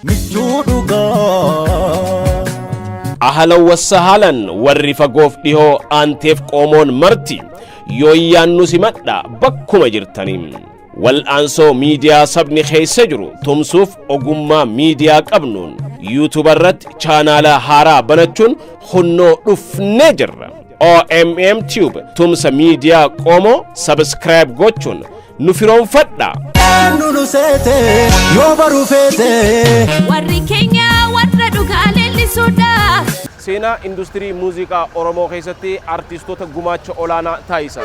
michuu dhugaa. ahalan wassahaalan warri fagoof dhihoo aanteef qoomoon marti yooyyaan nu simadha bakkuma jirtanii Wal'aansoo miidiyaa sabni keessa jiru tumsuuf ogummaa miidiyaa qabnuun yuutuuba irratti chaanaala haaraa banachuun hunnoo dhufnee jirra. OMM Tube tumsa miidiyaa qoomoo sabiskiraayib gochuun nu firoomfadha. Eenyu nu seete yoo baruu feete. Warri keenya warra dhugaa leellisuudha. Seenaa industirii muuziqaa Oromoo keessatti artiistota gumaacha olaanaa taasisan.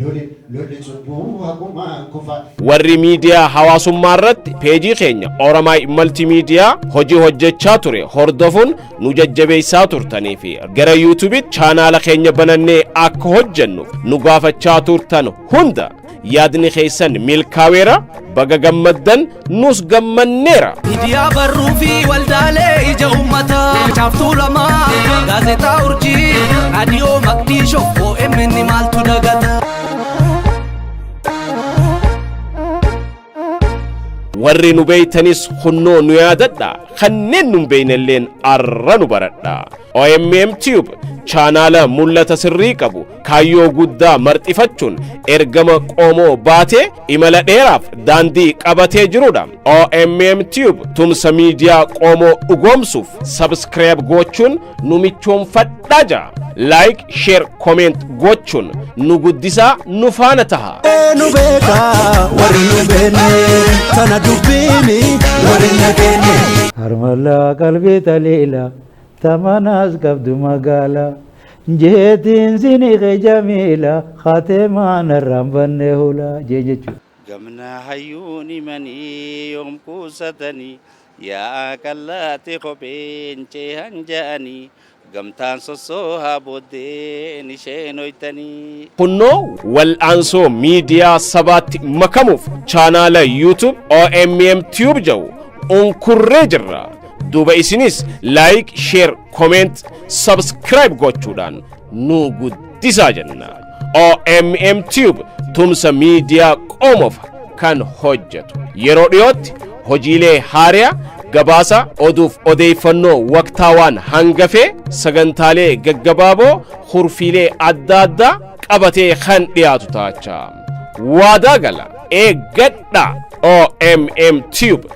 Loli loli cubbuu hagumaan kufa. Warri miidiyaa hawaasummaa irratti peejii keenya Oromai Multimedia hojii hojjechaa ture hordofuun nu jajjabeessaa turtanii fi gara YouTube chaanaala keenya banannee akka hojjennuuf nu gaafachaa turtan hunda yaadni keessan milkaaweera baga gammaddan nus gammanneera. Miidiyaa barruu fi waldaalee ija uummataa. Caaftuu lamaa gaazexaa urjii. Raadiyoo Maqdishoo OMN maaltu dagata. Warri nu beeytanis kunnoo nu yaadadha. Kanneen nun beeynelleen arra nu baradha. OMM Tube chaanaala mul'ata sirrii qabu kaayyoo guddaa marxifachuun ergama qoomoo baatee imala dheeraaf daandii qabatee jirudha. OMM Tube tumsa miidiyaa qoomoo dhugoomsuuf sabskiraayib gochuun nu michoomfadhaa jaa. Like, share, comment gochuun nu guddisaa nu faana taha. nu beeka warri nu beenne tana dubbiini warri nageenye. Harmallaa qalbii taliila. Tamanaas qabdu magaala. Jeetiin sini kee jamiila. Khateemaa narraan banne hula. Jeen jechuudha. Gamna hayyuun himanii yoom kuusatanii Yaa'a qallaatti kopheen ceehan ja'anii Gamtaan sossoohaa booddeen ishee noytanii. Kunnoo wal'aansoo miidiyaa sabaatti makamuuf chaanaala YouTube OMM Tube jedhu unkurree jirra. duuba isinis like share comment subscribe gochuudhaan nu guddisaa jenna OMM Tube tumsa miidiyaa qomoof kan hojjetu yeroo dhiyootti hojiilee haariyaa gabaasa oduuf odeeffannoo waqtaawaan hangafee sagantaalee gaggabaaboo hurfiilee adda addaa qabatee kan dhiyaatu taachaa waadaa gala eeggadha OMM Tube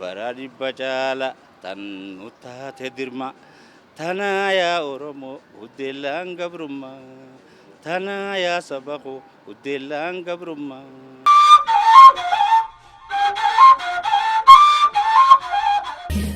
Bara dhibba caala tan nu taate dirma Tanaa yaa Oromo huddeellaan gabrumma Tanaa yaa saba koo huddeellaan gabrumma.